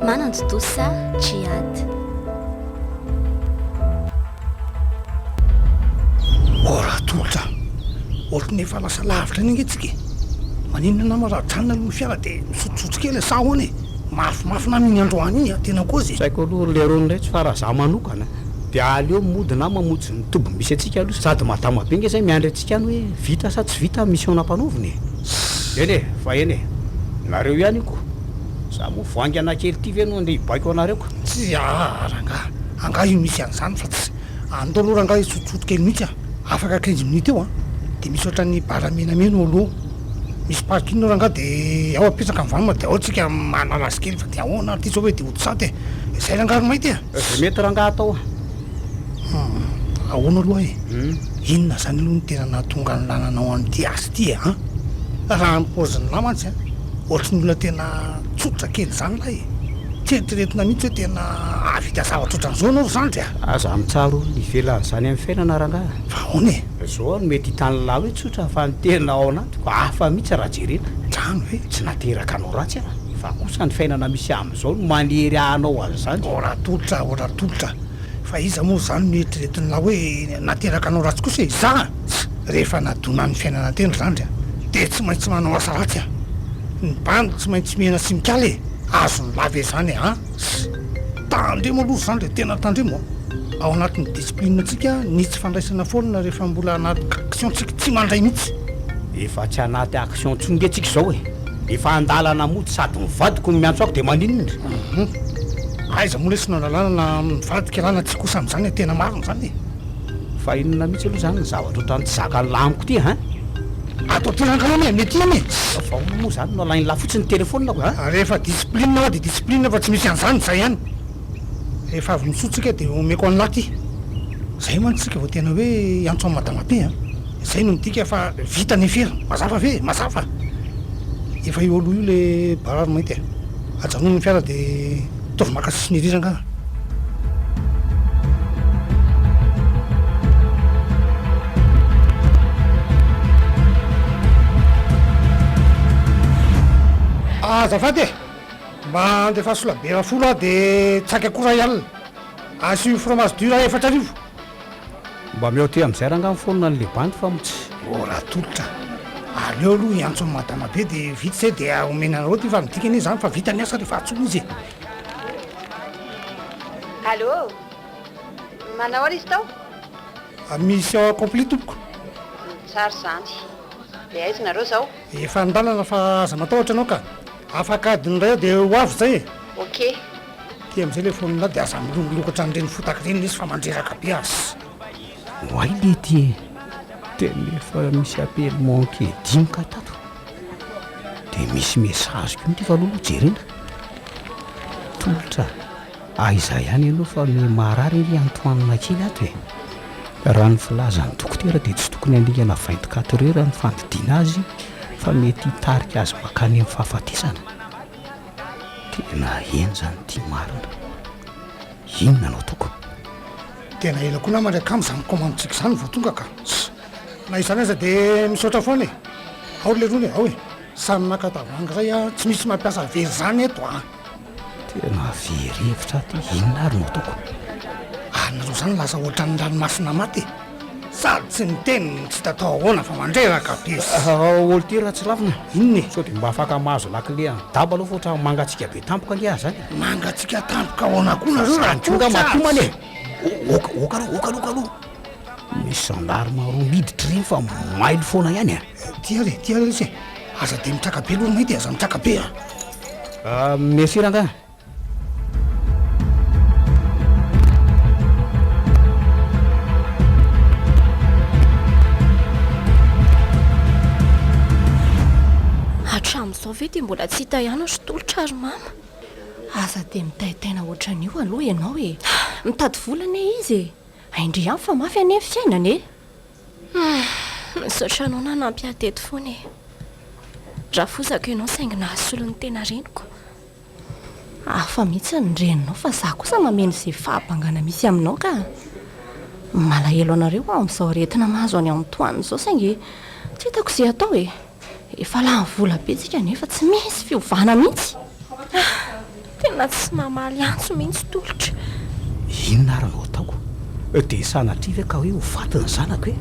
Manantontosa Djihad. Oh Ratolotra a! Ohatran'ny efa lasa lavitra any ange tsika e! Maninona nama raha mijanona aloha ny fiara dia misotsosotso kely sa ahoana e? Mafimafy nama iny androany iny a! Tena kozy e! Tsy haiko aloha ry Leirone retsy fa raha za manokana dia aleo mody na mamonjy ny toby misy antsika aloha sady madama be nge zay miandry antsika any hoe vita sa tsy vita mission nampanaovina e! Eny e! Fa eny e! Nareo ihany io ko! Za moa vao haingana kely ity ve no andeha hibaiko anareo ka. Tsia aa rangaha, angaha io misy an'izany fa tsy. Andao aloha rangaha hisotsoto kely mihitsy an. Afaka quinze minutes eo an, dia misy ohatran'ny bar menamena eo aloha, misy parking eo rangaha dia ao apetraka ny vanona dia ao tsika mahalala azy kely fa dia ahoana ary ity zao hoe dia hody saty e. Izay rangaha ry mainty e. Izay mety rangaha atao an. Hum, ahoana aloha e. Hum. Inona izany aloha no tena nahatonga an'i Lana anao any ity as. Ty an! Raha ny paozin'lah mantsy an! Ohatry ny olona tena tsotra kely izany lah e! Tsy eritreretina mihitsy hoe tena hahavita zavatra ohatran'izao ianao ry zandry a! Aza mitsara olona hivela an'izany amin'ny fiainana rangaha a! Fa ahoana e? Izao no mety hitan'lah hoe tsotra fa ny tena ao anatiko hafa mihitsy raha jerena. Izany ve? Tsy nateraka anao ratsy aho fa kosa ny fiainana misy amin'izao no manery ahy hanao an'izany. Ora tolotra, ora tolotra. Fa iza moa izany no eritreretin'lah hoe nateraka anao ratsy kosa e? Izaho an! Tsa! Rehefa nadonan'ny fiainana teny ry zandry an! Dia tsy maintsy manao asa ratsy an! Ny bandy tsy maintsy mihena sy mikala e! Azon'lah ve izany e? An! Tsa! Tandremo aloha ry zandry e! Tena tandremo an! Ao anatin'ny discipline-ntsika ny tsy fandraisana foana rehefa mbola anaty action-tsika, tsy mandray mihitsy! Efa tsy anaty action intsony nge tsika izao e! Efa andalana mody sady mivadiko no miantso ahy dia maninona? Hum, aiza moa lesy no andalana na mivadika na na tsia kosa amin'izany e, tena marina izany e! Fa inona mihitsy aloha izany ny zavatra ohatran'ny tsy zakan'ilay amiko ity an? Ato aty rangah anie, mety ihany e! Fa ahoana moa izany no alain'ilay fotsiny ny telefonina ko? Rehefa discipline aho dia discipline aho fa tsy misy an'izany, izay ihany! Rehefa avy misoa tsika dia omeko anla aty. Zay mantsy tsika vao tena hoe hiantso an'i madama aty an! Zay no midika fa vita ny aferiny. Mazava ve? Mazava! Efa io aloha io le barary mainty e! Ajanony ny fiara dia ataovy maka sisiny ery rangaha. Azafady e! Mba andefa solabera folo aho de tsaika koa ray alina. Asio fromage dur aho efatra arivo. Mba meo aty amizay rangah mifono an'i le bandy fa mts. Oh ratolotra a! aleo aloha hiantso an'i madama be dia vita izay dia omena anareo ity fa midika anie izany fa vita ny asa rehefa antsoina izy e! Allô? Manao ahoana izy tao? Mission accomplie tompoko. Tsara izany. Dia aiza nareo izao? Efa an-dalana fa aza matahotra ianao ka. Afaka adiny iray eo dia ho avy izay e! Ok. Aty amin'izay ilay fonina dia aza milongilongy ohatran'ireny fotaka ireny izy fa mandreraka be aza. Oay lety e! Tena efa misy appel manqué dimy ka tato. Dia misy message koa ity fa aloha aloha jerena. Tolotra. Aiza ihany ianao fa miha marary anie antoanina kely ato e! Raha ny filazan'ny dokotera dia tsy tokony haningana vingt quatre heures ny fandidiana azy fa mety hitarika azy mankany amin'ny fahafatesana. Tena eny izany ity marina. Inona no atoko? Tena ela koa namana akama izany commande tsika izany vao tonga ka. Na izany aza dia misaotra foana e! Ao ry leroa e! Ao e! Samy maka tavoahangy iray a! Tsy misy mampiasa vera izany eto a! Tena very hevitra aho ty, inona ary no ataoko? Anareo zany lasa ohatran'ny ranomasina maty e! Sady tsy miteny no tsy hita atao ahoana fa mandreraka be sy. Aolo ty Ratsilavina, inona e? Sao dia mba afaka mahazo lakile an'i Daba aloha fa ohatran'ny mangatsiaka be tampoka ange aho zany e! Mangatsiaka tampoka ahoana koa nareo raha Zany koa nga matoa man e! Oka, oka aloha, oka aloha, oka aloha! Misy gendarme roa miditra ireny fa mailo foana ihany an! Ty ary e, ty ary lesy e. Aza dia mitraka be aloha mety e, aza mitraka be a. Ah, merci rangahy. Hatramin'izao ve dia mbola tsy hita ihany ry tolotra ry mama? Aza dia mitaitaina ohatran'io aloha ianao e. Mitady vola anie izy e. Indry ihany fa mafy anie ny fiainana e. Humm misaotra anao nanampy ahy teto foana e! Rafozako ianao saingy nahasolo ny tena reniko. Hafa mihitsy ny reninao fa za kosa mameno izay fahabangana misy aminao ka! Malahelo anareo aho amin'izao aretina mahazo an'i Antoine izao saingy tsy hitako izay atao e! Efa lany vola be tsika nefa tsy misy fiovana mihitsy. Ah, tena tsy mamaly antso mihitsy tolotra. Inona ary no ataoko? Dia sanatria ve ka hoe ho faty ny zanako e?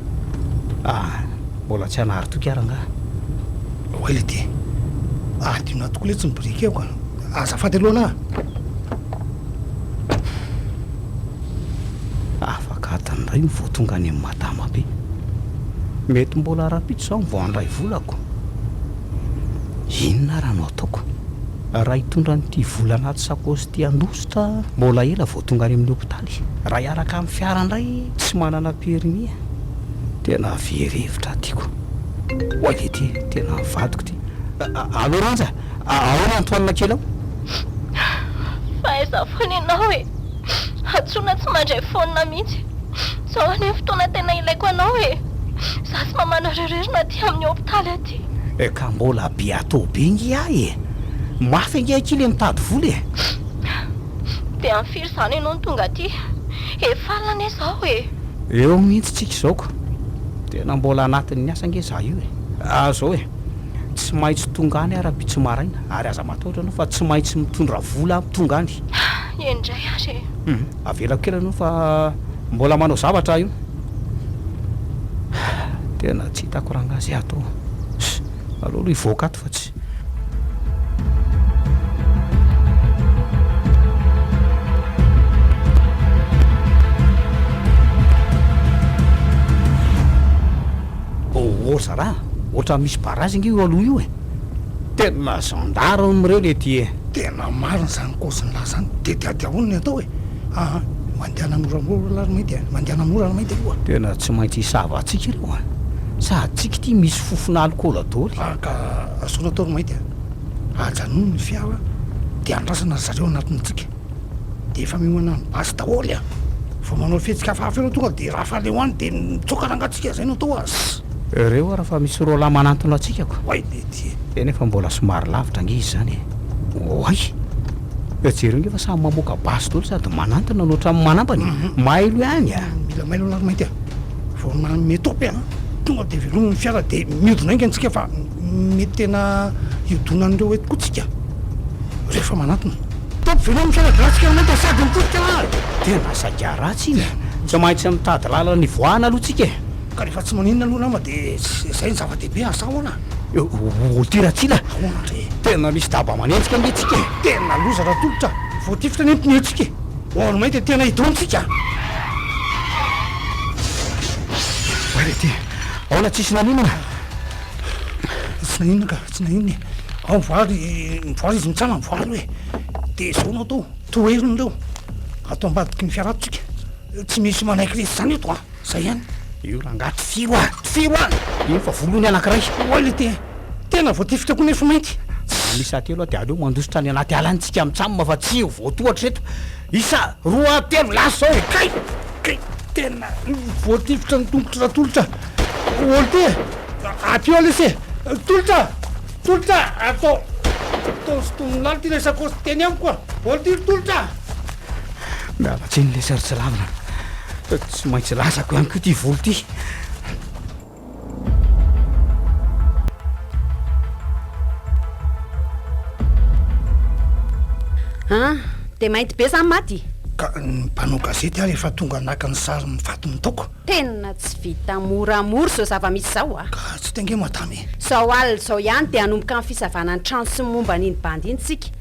Ah, mbola tsy hanary toky ary angaha? Oay le dia. Adio nahy tokoa letsy ny briquet-ko a! Azafady aloha anah! Afaka adiny iray no vao tonga any amin'ny. Dama be. Mety mbola rahampitso zaho vao handray volako. Inona ary no ataoko? Raha hitondra an'ity vola anaty sakaosy ity handositra, mbola ela vao tonga any amin'ny hopitaly. Raha hiaraka amin'ny fiara indray, tsy manana permis. Tena very hevitra tiako. Oay ve ity tena ny vadiko ity. Allô Randja, ahoana Antoine kely ao? Fa aiza foana ianao e? Hantsoina tsy mandray phone mihitsy. Zao anie fotoana tena ilaiko anao e! Za sy mamanareo rery no aty amin'ny hopitaly aty. Ka mbola biato be nge ahy e! Mafy ange akia le mitady vola e! Dia amin'ny firy izany ianao no tonga aty? Efa alina anie zao e! Eo mihitsy tsika izao ko! Tena mbola anatin'ny asa nge za io e! Zao e! Tsy maintsy tonga any ara pitso maraina ary aza matahotra anao fa tsy maintsy mitondra vola aho tonga any. Ah, eny indray ary e! Hum, avelako kely anao fa mbola manao zavatra aho io. Ah, tena tsy hitako rangahy izay hatao. Hum, aleo aloha hivoaka ato fa tsy. Ôoo zara a! Ohatran'ny misy barazy ange io aloha io e! Tena gendarme reo le ty e! Tena marina zany kaozy nilaza zany de diadiaolo ny atao e! aa mandehana moramora ary mainty e! Mandehana mora ary mainty aloha. Tena tsy maintsy hisava antsika reo a! Sa antsika ity misy fofona alikaola doly? Ary ka asolo atao ry mainty a! Ajanony ny fiara de andrasana ry zareo anatintsika. Dia efa miomana ny basy daholo a! Vao manao fihetsika hafahafa eo no tonga dia rafale ho any dia mitsoaka rangatsika zay no atao az. Heureux aho raha fa misy roalahy manantona antsika ko! Oay be ty e! Tena efa mbola somary lavitra ange izy zany e! Oay! Eo jereo nge fa samy mamoaka basy daholo sady manantona no otrany manambany e! Mailo ihany a! Mila mailo ny laromainty a! Vao nanome topy a! Tonga dia velominy ny fiara dia miodina enga antsika fa. Mety tena hiodonan'ireo hoe tokoa tsika rehefa manantona. Top veloma ny fianakaviantsika aminay dia sady mitodika ary. Dia mba saika ratsy iny a! Tsy maintsy mitady lalana ivoahana aloha tsika e! Ka rehefa tsy maninona aloha nama dia izay no zava-dehibe asa ahoana? Ô ty Ratsila! Ahoana ndry? Tena misy daba manenjika anie tsika e! Tena loza raha tolotra! Voatifitra ny pneu tsika e! Ho an'ny may dia tena hidona tsika! Ary ity! Aona tsisy naninona? Tsy naninona ka, tsy naninona e. Ao mivoaha ry, mivoaha izy mitsanga mivoaha aloha e. Dia izao no atao, toherina ireo ato ambadiky ny fiara ato tsika. Tsy misy manaiky resy izany eto an, izay ihany. Io rangahy tifiro a, tifiro a! Efa voa ny anankiray. Oay le te, tena voatifitra koa nefo mainty. Miisa telo aho dia aleo mandositra any anaty ala any tsika mitsam fa tsy ho voatohatra eto. Isa, roa, telo, lasa zao e! Kay! Kay! Tena voatifitra ny tongotry Ratolotra! Olty e! Aty eo lesy e! Tolotra! Tolotra! Atao! Atao sy tony lalitra ilay sakaosy teny amiko a! Olty ry Tolotra! Miala tsiny lesy ary tsy lavina. Tsy maintsy latsako ihany koa ity vola ity. Ah, dia mainty be zany maty? Ka ny mpanao gazety ary efa tonga naka ny sary ny faty nataoko. Tena tsy vita moramora izao zava-misy izao ah. Ka tsy tenge madama e. Izao alina izao ihany dia hanomboka ny fisavana ny trano sy ny momba an'iny bandy iny tsika.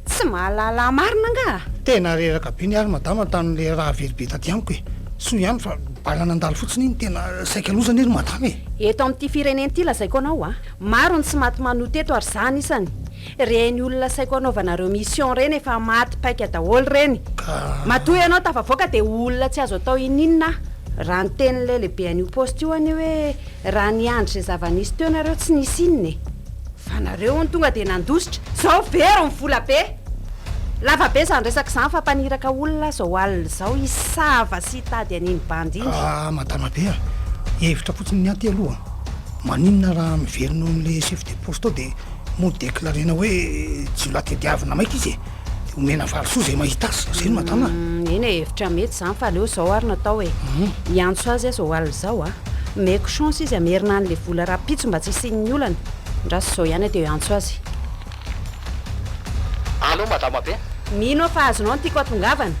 Tsy mahalala marina angaha? Tena reraka be ny ary madama tamin'ilay rahavelibe taty amiko e. Soa ihany fa. Bala nandalo fotsiny iny tena saika loza anie ry madama e! Eto amin'ity firenena ity lazaiko anao a, maro ny tsy maty manohy teto ary za anisany. Reny olona saiko anaovanareo mission reny efa maty paika daholo reny. Ka. Matoa ianao tafavoaka dia ho olona tsy azo atao ininona aho raha niteny ilay lehibe an'io poste io anie hoe Raha niandry izay zava-nisy teo nareo tsy nisy inona e! Fa nareo hono tonga dia nandositra, zao very ny vola be! Lava be izany resaka izany fa mpaniraka olona aza ao alina izao hisava sy hitady an'iny bandy iny. Ah madama be a! Hevitra fotsiny ny anty aloha! Maninona raha miverina ao amin'ilay chef de poste ao dia mo-declarena hoe jiolahy tadiavina maika izy e! Omena valisoa zay mahita azy, zay no matana. Mm, eny e, hevitra mety zany fa aleo zao ary natao e. Mm. Hiantso azy aza ho alina zao a. Meko chance izy amerina any le vola raha pitso mba tsy hisian'ny olana. Ndraso zao ihany ateo hiantso azy. Allo madama be. Mino aho fa azonao ny tiako atongavana.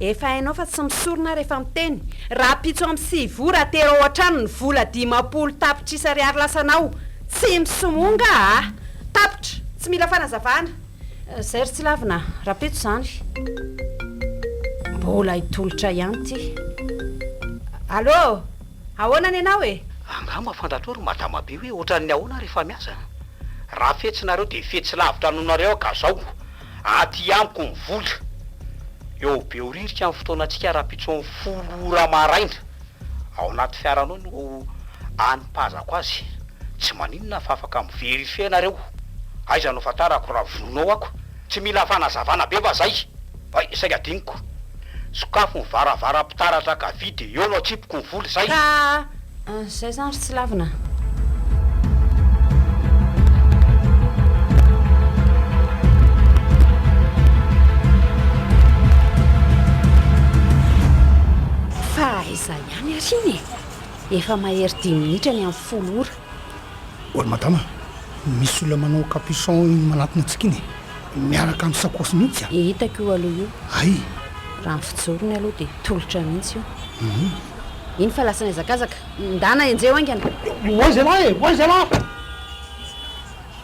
Efa hainao fa tsy misorona aho rehefa miteny. Raha pitso amin'ny sivy ora atero ao an-trano ny vola dimampolo tapitrisa ariary lasanao. Tsy misomonga a. Tapitra, tsy mila fanazavana. Zay ry tsy lavina a! Rapeto zany! Mbola hitolotra ihany ity. Allô! Ahoana ny anao e? Angaha mafantatrao ry madama be hoe ohatran'ny ahoana ary efa miasa an! Raha fetsy nareo dia fetsy lavitra noho nareo aho ka zao aty amiko ny vola! Eo Behoririka amin'ny fotoanantsika rahampitson'ny folo ora maraina! Ao anaty fiara anao no anipazako azy! Tsy maninona fa afaka mi verifier nareo, aiza no fantarako raha vono ako, tsy mila fanazavana be va zay? Hay saika adinoko. Sokafy ny varavaram-pitaratra ka vide eo no atsipiko ny vola, zay. Ka ah, zay zany ry tsy lavina ah. Fa aiza ihany ary iny e? Efa mahery dimy minitra ny amin'ny folo ora. Ry madama, misy olona manao capuchon iny manatona antsika iny e. Miaraka amin'ny sakaosy mihitsy a. Hitako io aloha io. Hay! Raha ny fijorony aloha dia tolotra mihitsy io. Hum. Iny fa lasa nihazakazaka. Ndana enjeho haingana. Oay zalahy e! Oay zalahy!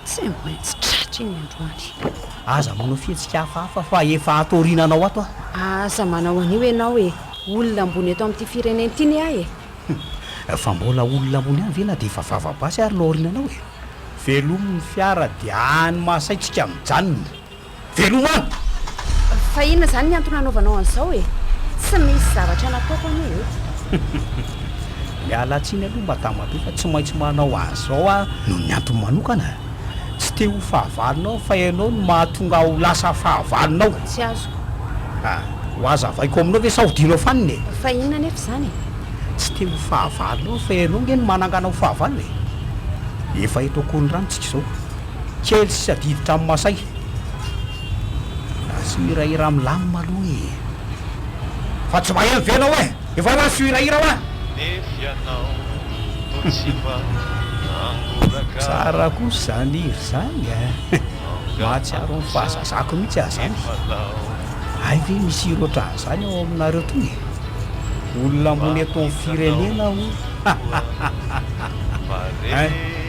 Tsy maintsy tratra iny androany. Aza manao fihetsika hafahafa fa efa ato aoriananao ato aho. Aza manao an'io ianao e! Olona ambony eto amin'ity firenena ity ny ahy e! Fa mbola olona ambony ihany ve na dia efa vava basy ary no aoriananao e! Velomy ny fiara dia any mahasaintsika mijanona. Veloma! Fa inona izany ny antony anaovanao an'izao e? Tsy misy zavatra nataoko anie e! Miala tsiny aloha madama be fa tsy maintsy manao an'izao aho noho ny antony manokana. Tsy te ho fahavalonao aho fa ianao no mahatonga ahy ho lasa fahavalonao. Tsy azoko. Ah, ho hazavaiko aminao ve sa ho dinao fanina e? Fa inona anefa izany e? Tsy te ho fahavalonao aho fa ianao ange no manangana ho fahavalo e! Efa eto Akorondrano isika izao. Kely sisa adiditra amin'ny masay. Lasa hirahira milamina aloha e. Fa tsy maheno ve ianao e? Efa lasa hirahira wa? Nefy ianao no tsy mba nangoraka. Tsara kosa izany hira izany e. Mahatsiaro ny fahazazako mihitsy aho izany. Hay ve misy hira ohatran'izany ao aminareo toa e? Olona mbola eto amin'ny firenena hono. Hein?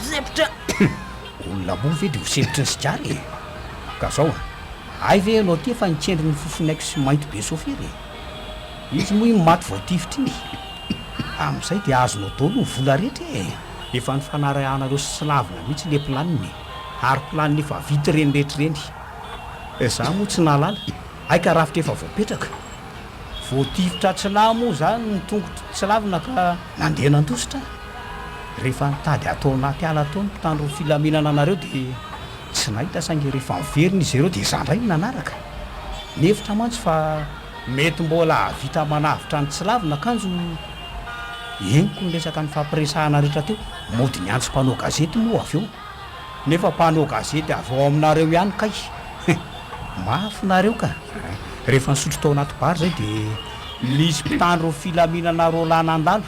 Sempotra! Olona moa ve dia ho sempotry ny sigara e? Ka zao a! Hay ve ianao tia fa nikendry ny fofon'aiko sy mainty be sôfera e! Izy moa iny maty vao tifitra iny! Amin'izay dia azonao dôly ny vola rehetra e! Efa nifanarahanareo sy slavina mihitsy le planiny e! Ary planiny efa vita ireny rehetra ireny! Izaho moa tsy nahalala! Hay ka rafitra efa voapetraka! Voatifitra tsy nahy moa izany ny tongotro tsy lavina ka nandeha nandositra ahy. Rehefa nitady ahy tao anaty ala tao ny mpitandro ny filaminana anareo dia tsy nahita saingy rehefa niverina izy ireo dia izaho indray no nanaraka. Nihevitra mantsy fa mety mbola hahavita manavotra ny tsy lavina kanjo henoko niresaka nifampiresahana rehetra teo. Mody niantso mpanao gazety moa avy eo. Nefa mpanao gazety avy ao aminareo ihany kay! Mafy nareo ka! Rehefa nisotro tao anaty bar zay de nisy mpitandro ny filaminana roa lahy nandalo!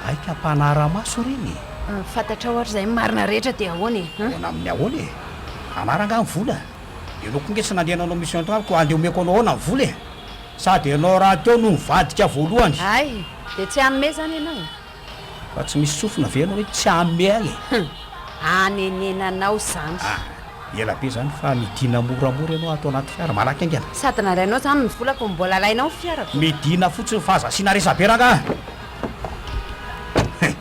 Aika mpanara-maso ireny e! Fantatrao ary zay marina rehetra de ahoana e! Ahoana amin'ny ahoana e! Hanara nga ny vola? Ianao koa nge tsy nandeha nanao mission tamiko ka andeha omeko anao ahoana ny vola e! Sady ianao rahateo no nivadika voalohany! Hay! De tsy hanome zany ianao e! Fa tsy misy sofina ve ianao hoe tsy hamehy e? Hum! Hanenenanao zany. Ah! Ela be zany fa midina moramora ianao ato anaty fiara, malaky haingana. Sady nalainao zany ny volako no mbola alainao ny fiarako. Midina fotsiny fa aza asiana resabe rangah a! Hein!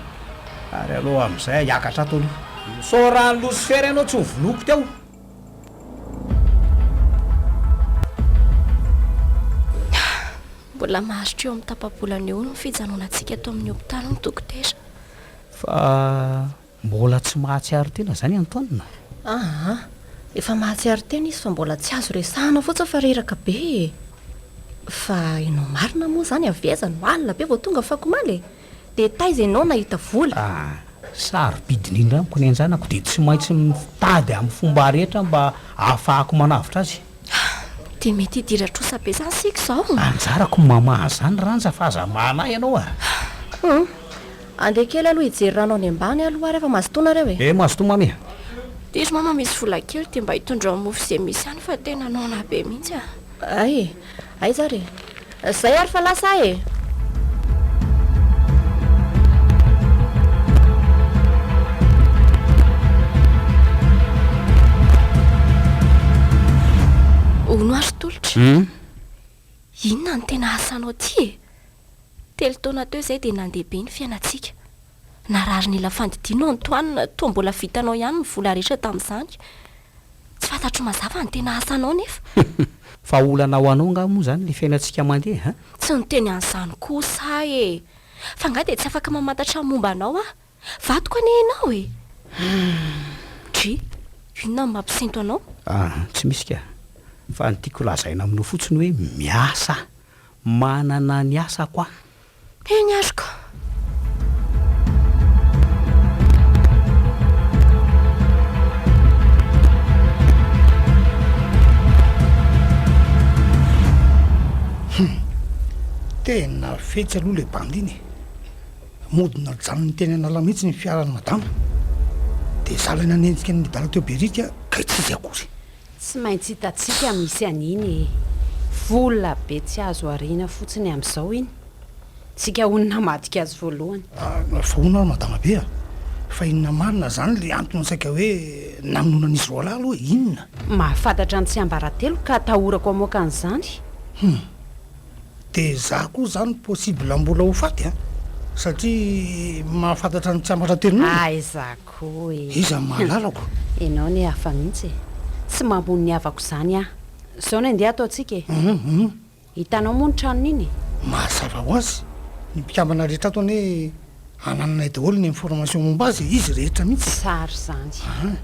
Ary aleo amin'izay hiakatra ato aloha. Misaoran'i Losifera ianao tsy novonoiko teo. Mbola maharitra eo amin'ny tapa-bolana eo ny fijanonantsika eto amin'ny hopitaly ny dokotera. Fa mbola tsy mahatsiaro tena izany Anton? Aa, efa mahatsiaro tena izy fa mbola tsy azo resahana fotsiny fa reraka be e! Fa ianao marina moa izany avy aiza no alina be vao tonga afakomaly e? Dia taiza ianao nahita vola? A, Sarobidy indrindra amiko ny an-janako dia tsy maintsy mitady amin'ny fomba rehetra mba hahafahako manavotra azy. A, Dia mety hidira trosa be izany isika izao? Anjarako ny mamaha an'izany Randja fa aza mahana ahy ianao a! A, Humm, andeha kely aloha hijery rano any ambany aloha ary efa mazotoa nareo e! E, mazotoa Mamy a! Diso Mama misy vola kely dia mba hitondrao mofo izay misy any fa tena noana be mihitsy a! Hay e! Aiza ary e? Zay ary fa lasa aho e! Hono ary Tolotra e! Inona no tena asanao aty e? Telo taona teo izay dia nandeha be ny fiainantsika. Nararin'ila fandidiana aho Antoine, toa mbola vitanao ihany ny vola rehetra tamin'izany. Tsy fantatro mazava ny tena asanao nefa. Fa olana ho anao angaha moa izany ilay fiainantsika mandeha an? Tsy niteny an'izany kosa aho e! F'angaha dia tsy afaka mamantatra ny momba anao aho? Vadiko anie ianao e! Dry, inona no mampisento anao? Aah, tsy misy kah! Fa ny tiako lazaina aminao fotsiny hoe miasa aho. Manana ny asako aho. Eny ary koa. Hum. Tena fetsy aloha ilay bandy iny e. Mody najanony teny an'ala mihitsy ny fiaran'i madama. Dia za ilay nanenjika an'i Midala teo Beric kay tsy izy akory. Tsy maintsy hitantsika misy an'iny e! Vola be tsy azo ariana fotsiny amin'izao iny! Tsika hono namadika azy voalohany! Fa hono ary madamabe a! Fa inona marina izany ilay antony saika hoe namonoan'izy roalahy aloha e? Inona? Mahafantatra ny tsiambaratelo ka atahorako hamoaka an'izany! Hum! Dia izaho koa izany possible mbola ho faty a! Satria mahafantatra ny tsiambaratelo noana e! Aiza Koa e! Iza no mahalalako? Ianao anie hafa mihitsy e! Tsy mamono ny havako izany aho. Izao no andeha ataontsika e! Hum! Hum! Hitanao moa ny tranon'iny e! Mazava ho azy, ny mpikambana rehetra ato anie anananay daholo ny information momba azy e! Izy rehetra mihitsy e! Tsara izany.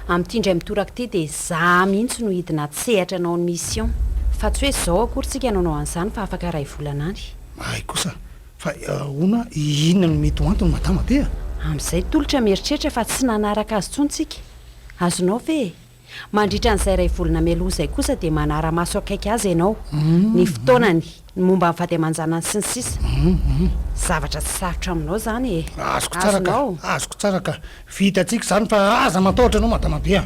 Amin'ity indray mitoraka ity dia za mihitsy no hidina hatsehatra hanao ny mission. Fa tsy hoe izao akory tsika no hanao an'izany fa afaka iray volana any. Hay kosa! Fa ahoana, inona no mety ho antony madama be a? Amin'izay tolotra mieritreritra fa tsy nanaraka azy intsony tsika. Azonao ve e? Mandritra an'izay iray volana mialoha izay kosa dia manara-maso akaiky azy ianao, ny fotoanany, ny momba ny vady aman-janany sy ny sisa. Zavatra tsy sarotra aminao izany e. Azoko tsara ka, azoko tsara ka. Vita tsika zany fa aza matahotra anao madama be a.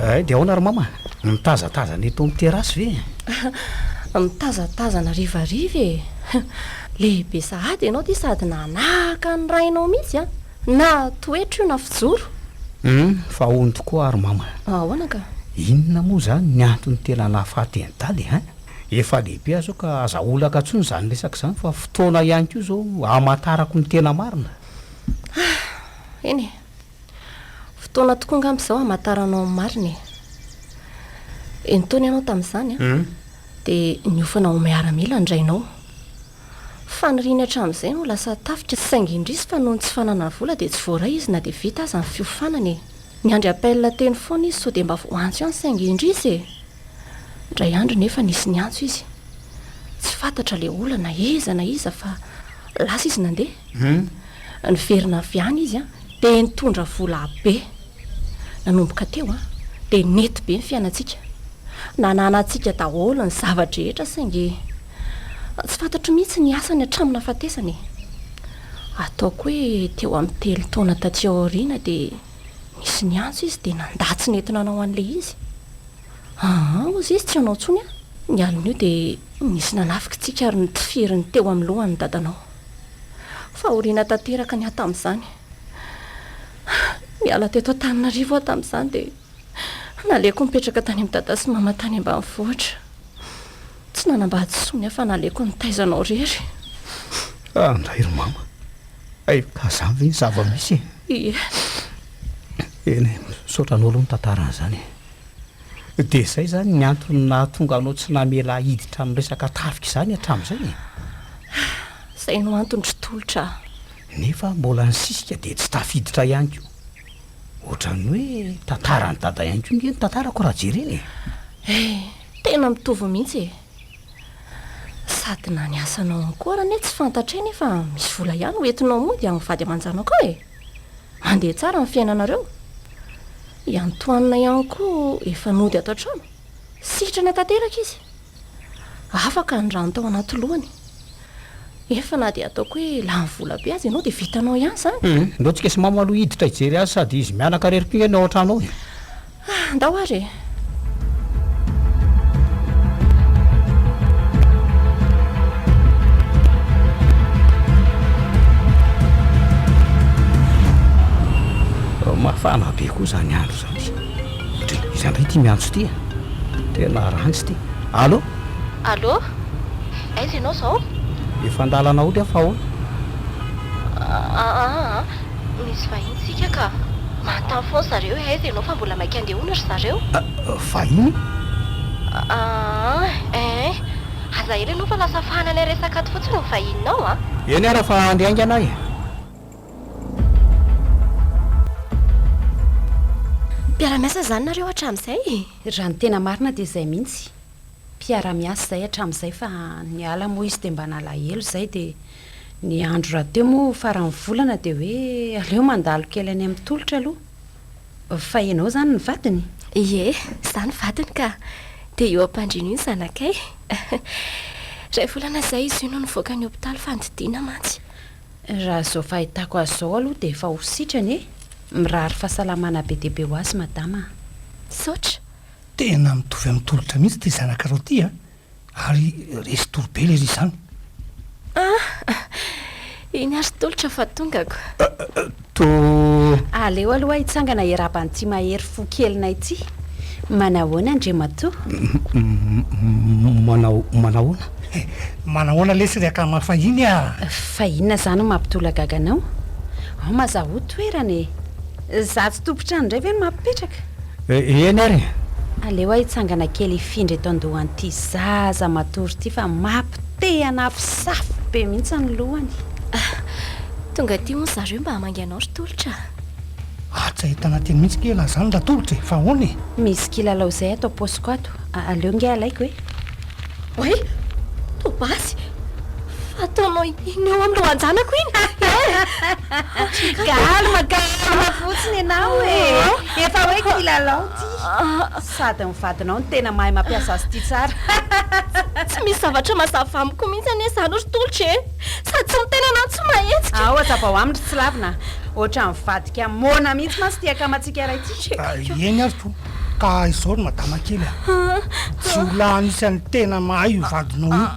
Eh, dia ahoana ry mama? Mitazatazana eto amin'ny terasy ve? Mitazatazana rivariva e. Lehibe sahady ianao ity sady nanahaka ny rainao mihitsy a. Na toetra io na fijoro. Humm fa ony tokoa ary mama a! Ahoana ka? Inona moa izany ny antony tena nahafaty an'i Daly an? Efa lehibe aho izao ka aza olaka intsony izany resaka izany fa fotoana ihany koa izao hamantarako ny tena marina. Ah! eny e! Fotoana tokoa angamba izao hamantaranao ny marina e! Enin-taona ianao tamin'izany an? Humm. Dia niofana ho miaramila ny rainao. Faniriany hatramin'izay ny ho lasa tafika saingy indrisy fa noho ny tsy fananany vola dia tsy voaray izy na dia vita aza ny fiofanana e! Niandry appel teny foana izy sao dia mba voaantso ihany saingy indrisy e! Indray andro nefa nisy niantso izy. Tsy fantatra ilay olana na iza na iza fa lasa izy nandeha. Niverina avy any izy an! dia nitondra vola be. Nanomboka teo an! dia nety be ny fiainantsika. Nananantsika daholo ny zava-drehetra saingy. Tsy fantatro mihitsy ny asany hatramin'ny nahafatesana e! Ataoko hoe teo amin'ny telo taona taty aoriana dia nisy niantso izy dia nandà tsy nety nanao an'ilay izy. Aa, hozy izy tsy hanao intsony an! Ny alin'io dia nisy nanafika antsika ary nitifiry ny teo amin'ny lohany ny dadanao. Fahoriana tanteraka ny ahy tamin'izany. Niala teto Antananarivo aho tamin'izany dia naleoko nipetraka tany amin'i dada sy mama tany ambanivohitra. Tsy nanambady intsony aho fa naleoko nitaiza anao irery. Ah, ndray ry mama. Hay ka zany ve ny zava-misy e? Ie. Eny, misaotra anao aloha ny tantarany zany. Dia izay zany ny antony nahatonga anao tsy namela ahy hiditra amin'ny resaka tafika izany hatramin'izay e? Izay no antony ry Tolotra ah. Nefa mbola nisisika dia tsy tafiditra ihany koa. Ohatran'ny hoe tantaran'i Dada ihany koa nge no tantarako raha jerena e. Eh, Tena mitovy mihitsy e! Sady na ny asanao ao koa ary anie tsy fantatray nefa misy vola ihany ho entinao mody amin'ny vady aman-janako ao e! Mandeha tsara ny fiainanareo. I Antoine ihany koa efa nody ato an-trano. Sitrana tanteraka izy. Afaka ny rano tao anaty lohany. Efa na dia ataoko hoe lany vola be aza ianao dia vitanao ihany izany. Hum, ndao tsika sy mamo aloha hiditra hijery azy sady izy mianaka irery koa ngah ny ao an-trano ao e! Ah, ndao ary e! Mafana be koa izany andro izany. Dry, iza indray ity miantso ity a? Tena ranjy ity. Allô? Allô? Aiza ianao izao? Efa an-dalana hody aho fa ahoana? Ah, ah, ah. Misy vahiny tsika ka. Manontany foana zareo hoe aiza ianao fa mbola maika andeha hono ry zareo. Vahiny? Aah eeh. Aza ela ianao fa lasa fahana ilay resaka ato fotsiny ny vahininao a. Eny ara fa andry haingana e. Mpiara-miasa izany nareo hatramin'izay e. Raha ny tena marina dia izay mihitsy. mpiara-miasa izay hatramin'izay fa niala moa izy dia mba nalahelo izay dia ny andro rahateo moa faran'ny volana dia hoe aleo mandalo kely any amin'ny tolotra aloha. Fa ianao izany ny vadiny? Ie, izaho ny vadiny ka! Dia io ampandriana io ny zanakay. Iray volana izay izy io no nivoaka ny hopitaly fa nididiana mantsy. Raha izao fahitako azy izao aloha dia efa ho sitrana e! Mirary fahasalamana be dia be ho azy madama a! Misaotra. Tena mitovy amin'ny tolotra mihitsy ity zanakareo ity a! Ary resy tory be lery izany. Ah! Iny ary tolotra fa tongako. To. Aleo aloha hitsangana hiarahaba an'ity mahery fo kelinay ity. Manahoana Andriamatoa? Manao, manahoana? Eh, manahoana lesy ry akama fahiny a! Fa inona izany no mampitolagaga anao? Ao Mazahoa toerana e! Za tsy tompon-trano indray ve no mampipetraka? Eh eny ary e! Aleo aho hitsangana kely hifindra eto an-dohan'ity zaza matory ity fa mapy te hanafo safo be mihitsy ny lohany. Ah! Tonga aty hono zareo mba hamangy anao ry Tolotra a! Ah! Tsy ahitana teny mihitsy kee lahy zany ry Tolotra e! Fa ahoana e! Misy kilalao zay ato am-paosiko ato, aleo nge alaiko e! Oay! Toa basy! Fa ataonao iny eo amin'ny lohan-janako iny eh! Calme, calme fotsiny ianao e! Efa hoe kilalao ity! Sady ny vadinao no tena mahay mampiasa azy ity tsara! Tsy misy zavatra mazava amiko mihitsy anie izany ry Tolotra e! Sady tsy miteny anao tsy mahetsika! Ao hazavao aminy ry Tsilavina a! Ohatran'ny mivadika moana mihitsy mantsy ity akamantsika iray ity! Eny ary toa! Ka izao ry madama kely a! jiolahy anisan'ny tena mahay io vadinao io.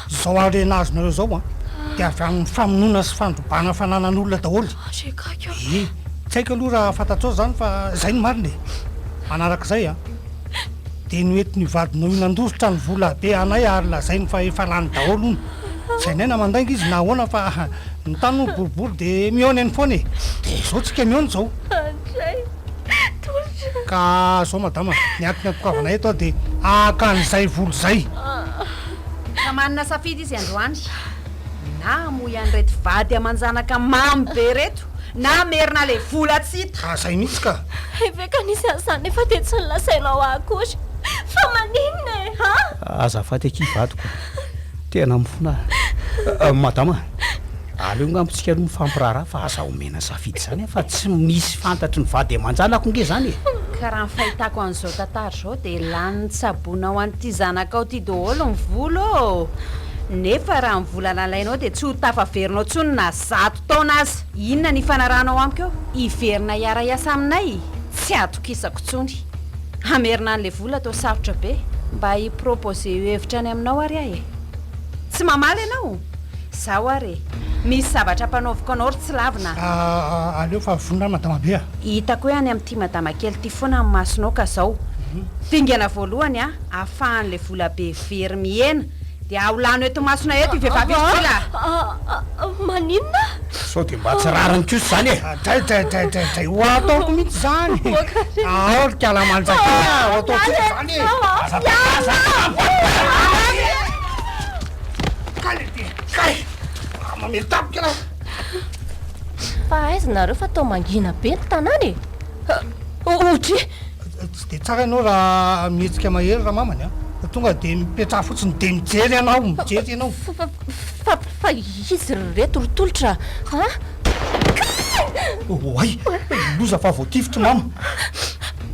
Izao harena azonareo izao a, dia avy amin'ny famonoana sy fandrobana fananan'olona daholo. Ee, tsy haiko aloha raha fantatrao izany fa izay no marina e! Manaraka izay a, dia noentin'io vadinao io nandositra ny vola be anay ary lazainy fa efa lany daholo hono. Tsy hainay na mandainga izy na ahoana fa ny tany hono boribory dia mihaona eny foana e! Dia izao tsika mihaona izao. Ka zao madama, ny antony antokavanay eto dia haka an'izay volo izay. Ka manana safidy izy androany, na hamoy an'ireto vady aman-janaka mamy be ireto na hamerina ilay vola tsy hita. Ka izay mihitsy ka. Eveka nisy an'izany nefa dia tsy nilasainao ahy akory fa maninona e ha? Azafady akia vadiko a! Tena mifona aho. Madama. Aleo ngamba tsika aloha mifampiraharaha fa aza omena safidy zany a fa tsy misy fantatry ny vady aman-janako nge zany e! Ka raha ny fahitako an'izao tantara izao dia lanin'ny tsaboina ho an'ity zanakao ity daholo ny vola ô! Nefa raha ny vola nalainao dia tsy ho tafaverinao intsony na zato taona aza! Inona ny ifanarahanao amiko eo? Hiverina hiara-hiasa aminay? Tsy atokisako intsony! Hamerina an'ilay vola toa sarotra be! Mba hi-proposer hevitra any aminao ary aho e! Tsy mamaly ianao? Izaho ary e! Misy zavatra ampanaoviko anao ry tsy lavina a! Ah, aleo fa vonona madama be a! Hitako hoe any amin'ity madama kely ity foana ny masonao ka izao. Dingana voalohany a! Afahan'ilay vola be very mihena dia aho lano eto masona eto io vehivavy io satria la. Ah, maninona? Sao dia mba tsy rariny kosa izany e! Dray, dray, dray, dray, dray! Ho ataoko mihitsy izany! Aho ry kalamanjaka a! Ho ataoko mihitsy izany e! Aza miala a! Kay ity, kay! Raha mamely tampoka ialahy a! Fa aiza nareo fa toa mangina be ny tanàna e! Ohatry. Tsy dia tsara ianao raha mihetsika mahery ramamany a! Tonga dia mipetraha fotsiny dia mijery ianao, mijery ianao. Fa, fa izy ry reto ry tolotra a! Oay! Loza fa voatifitry mama!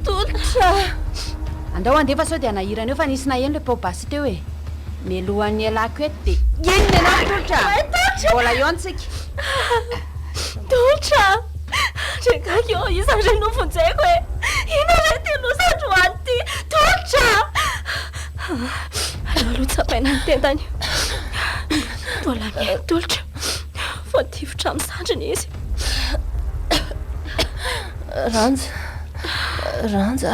Tolotra! Andao handefa sao dia hanahirana eo fa nisy naheno ilay pao basy. teo e! Mialohan'ny hialako eto dia inona ianao Tolotra a! Mbola eo ntsika! Tolotra a! Rengako eo iza re no vonjeko e! Inona re ity loza androany ity Tolotra a! Aleo aloha tsapaina ny tendany io! Mbola mihaino Tolotra! Voatifitra amin'ny zandriny izy! Ranja! Ranja!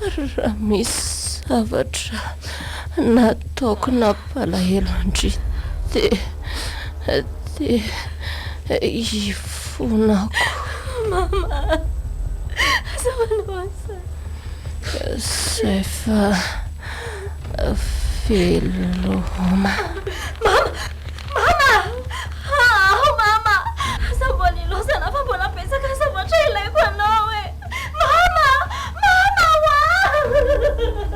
Raha misy zavatra nataoko nampalahelo an-dry dia, dia ifonako. Mama, aza manao an'izany. Izay fa veloma. Mama, Mama ah ah mama aza mbola ilaozana fa mbola betsaka zavatra ilaiko anao e mama mama hoaa.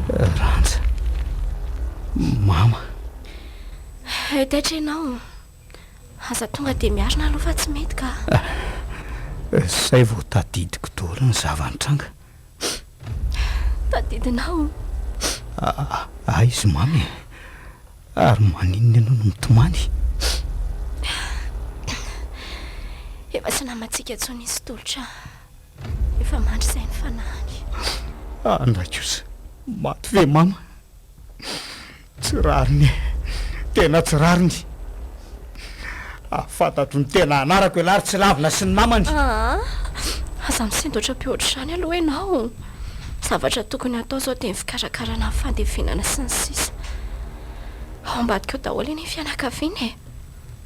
Randja. Mama. Hay taitra ianao. Aza tonga dia miarina aloha fa tsy mety ka. Izay vao tadidiko daholo ny zava-nitranga. Tadidinao? Aiza Mamy e? Ary maninona ianao no mitomany? Efa tsy namantsika intsony izy Tolotra. Efa mandry izay ny fanahiny. Andray kosa, maty ve Mama? Tsy rariny e! Tena tsy rariny! Raha fantatro ny tena anarako ialahy ry tsy lavina sy ny namany! Aa! Aza misindotra be ohatr'izany aloha ianao! Zavatra tokony hatao izao dia ny fikarakarana ny fandevenana sy ny sisa! Ao ambadika ao daholo anie ny fianakaviana e!